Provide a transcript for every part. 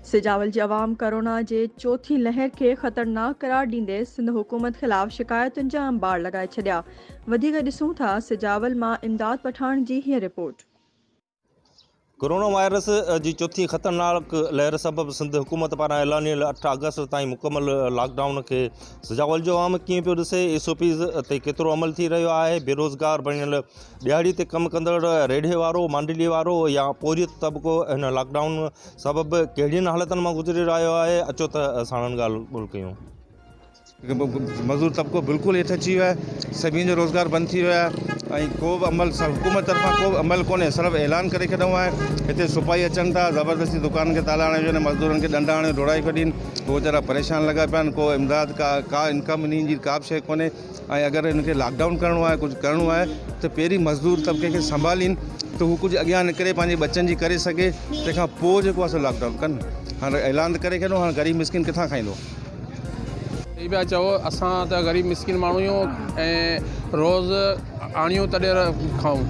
سجاول جي عوام ڪرونا جي چوٿين لهر کي خطرناڪ قرار ڏيندي سنڌ حڪومت خلاف شڪايتن جا انبار لڳائي ڇڏيا وڌيڪ ڏسون ٿا سجاول مان امداد پٺاڻ جي هيء رپورٽ. ڪورونا وائرس جي چوٿين خطرناڪ لهر سبب سنڌ حڪومت پاران اعلانيل اٺ آگسٽ تائين مڪمل لاڪ ڊائون کي سجاول جو عوام ڪيئن پيو ڏسي، ايس او پيز تي ڪيترو عمل ٿي رهيو آهي، بيروزگار بڻيل ڏهاڙي تي ڪم ڪندڙ ريڍي وارو، مانڊلي وارو يا پورهيت طبقو هن لاڪ ڊائون سبب ڪهڙين حالتن مان گذري رهيو آهي اچو ته ساڻن ڳالهه ٻولهه ڪيون. مزور طبقو بلڪل هيٺ اچي ويو آهي، سڀني جو روزگار بند ٿي ويو آهي ۽ ڪو به عمل حڪومت طرفان ڪو به عمل ڪونهي صرف اعلان ڪري ڇڏيون آهي، هتي سپاهي اچن ٿا زبردستي دڪانن کي تالا هڻي وڃن مزدورن کي ڏنڊا هڻي ڊوڙائي ڇڏين، هو ويچارا پريشان لڳا پيا آهن ڪو امداد ڪا ڪا انڪم انهن جي ڪا به شيء ڪونهي. ۽ اگر هن کي لاڪ ڊائون ڪرڻو آهي ڪجهه ڪرڻو آهي ته پهرين مزدور طبقي کي سنڀالين ته هو ڪجهه اڳيان نڪري پنهنجي ٻچن جي ڪري سگهي تنهن کان پوء جيڪو آهي سو لاڪ ڊائون ڪن هاڻ اعلان ته ڪري ڇڏيو هاڻ غريب مسڪين ڪٿان کائيندو. صحيح پيا چئو اسان ته غريب مسڪين ماڻهو آهيون ۽ روز آڻيون تڏهن کائون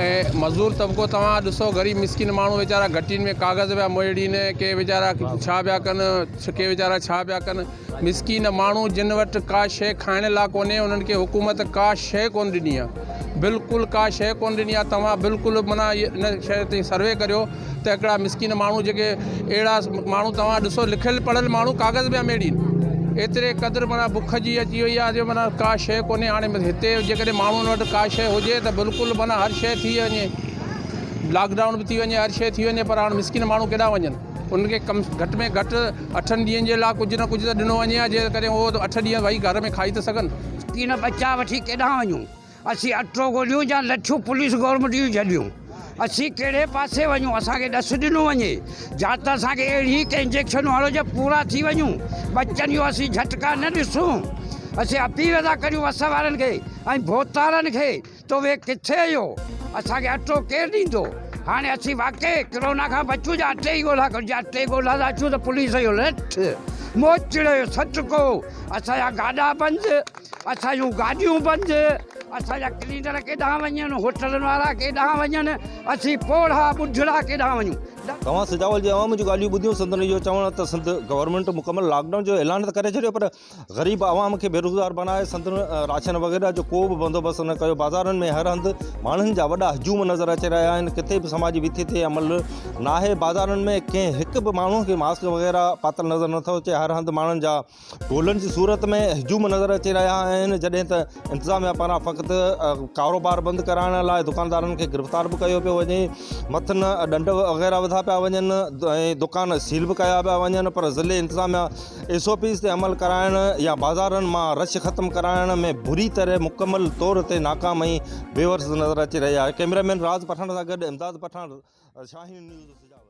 ۽ مزدور طبقو توهان ڏسو غريب مسڪين ماڻهو ويچارا گهٽين ۾ ڪاغذ پيا مڙهڙين ڪي ويچارا ڇا پيا ڪن ڪي ويچارا ڇا پيا ڪن مسڪين ماڻهو جن وٽ ڪا شيء کائڻ لا ڪونهي انهن کي حڪومت ڪا شيء ڪونه ڏني آ بلڪل ڪا شيء ڪونه ڏني آ توهان بلڪل معنيٰ ان شيء تي سروي ڪريو ته هڪڙا مسڪين ماڻهو جيڪي اهڙا ماڻهو توهان ڏسو لکيل پڙهيل ماڻهو ڪاغذ پيا ميڙين ايتري قدر معنيٰ بک جي اچي وئي آ جو معنيٰ ڪا شيء ڪونهي هاڻي هتي جيڪڏهن ماڻهن وٽ ڪا شيء هجي ته بلڪل معنيٰ هر شيء ٿي وڃي لاڪ ڊائون به ٿي وڃي هر شيء ٿي وڃي پر هاڻ مسڪين ماڻهو ڪيڏانهن وڃن. انهن کي ڪم گهٽ ۾ گهٽ اٺن ڏينهن جي لاء ڪجهه نه ڪجهه ته ڏنو وڃي ها جنهن ڪري هو اٺ ڏينهن وهي گهر ۾ کائي ته سگهن. تين ٻچا وٺي ڪيڏانهن وڃون؟ اسين اٽو ڳوليون يا لٺيون پوليس گورنمينٽ جون جهليون؟ اسين ڪهڙي پاسي وڃون؟ اسان کي ڏس ڏنو وڃي يا ته اسان کي اهڙي هڪ انجيڪشن هڻو جو پورا ٿي وڃون. ٻچن جو اسين جهٽڪا نه ڏسون. اسين اپيل ٿا ڪريون وس وارن کي ۽ ڀوتارن کي توهين ڪٿي اهيو اسان کي اٽو ڪير ڏيندو هاڻي اسين واقعي ڪرونا کان بچون جا اٽي جي ڳولا ڪرون جا اٽي جي ڳولا لاء اچون ته پوليس جو لٺ موچڙو جو سٽڪو اسان جا گاڏا بند اسان جون گاڏيون بند اسان جا ڪلينڊر ڪيڏانهن وڃن هوٽلن وارا ڪيڏانهن وڃن اسين پوڙها ٻڍڙا ڪيڏانهن وڃون توهان سجاول جي عوام جون ڳالهيون ٻڌيون سندن اهو چوڻ ته سنڌ گورنمينٽ مڪمل لاڪ ڊائون جو اعلان ته ڪري ڇڏيو پر غريب عوام کي بيروزگار بڻائي سندن راشن وغيره جو ڪو به بندوبست نه ڪيو بازارن ۾ هر هنڌ ماڻهن جا وڏا هجوم نظر اچي رهيا آهن ڪٿي به سماجي وٿي تي عمل ناهي بازارن ۾ ڪنهن هڪ به ماڻهو کي ماسڪ وغيره پاتل نظر نٿو اچي هر هنڌ ماڻهن جا ٽولن جي صورت ۾ هجوم نظر اچي رهيا آهن جڏهن ته انتظاميا پاران فقط ڪاروبار بند ڪرائڻ لاء دڪاندارن کي گرفتار به ڪيو پيو وڃي، مٿن ڏنڊ وغيره وڌا پيا وڃن ۽ دڪان سيل به ڪيا پيا وڃن پر ضلعي انتظاميا ايس او پيز تي عمل ڪرائڻ يا بازارن مان رش ختم ڪرائڻ ۾ بري طرح مڪمل طور تي ناڪام ۽ بيورس نظر اچي رهي آهي. ڪئميرا مين راز پٺاڻ سان گڏ امداد پٺاڻ، شاهين نيوز سجاول.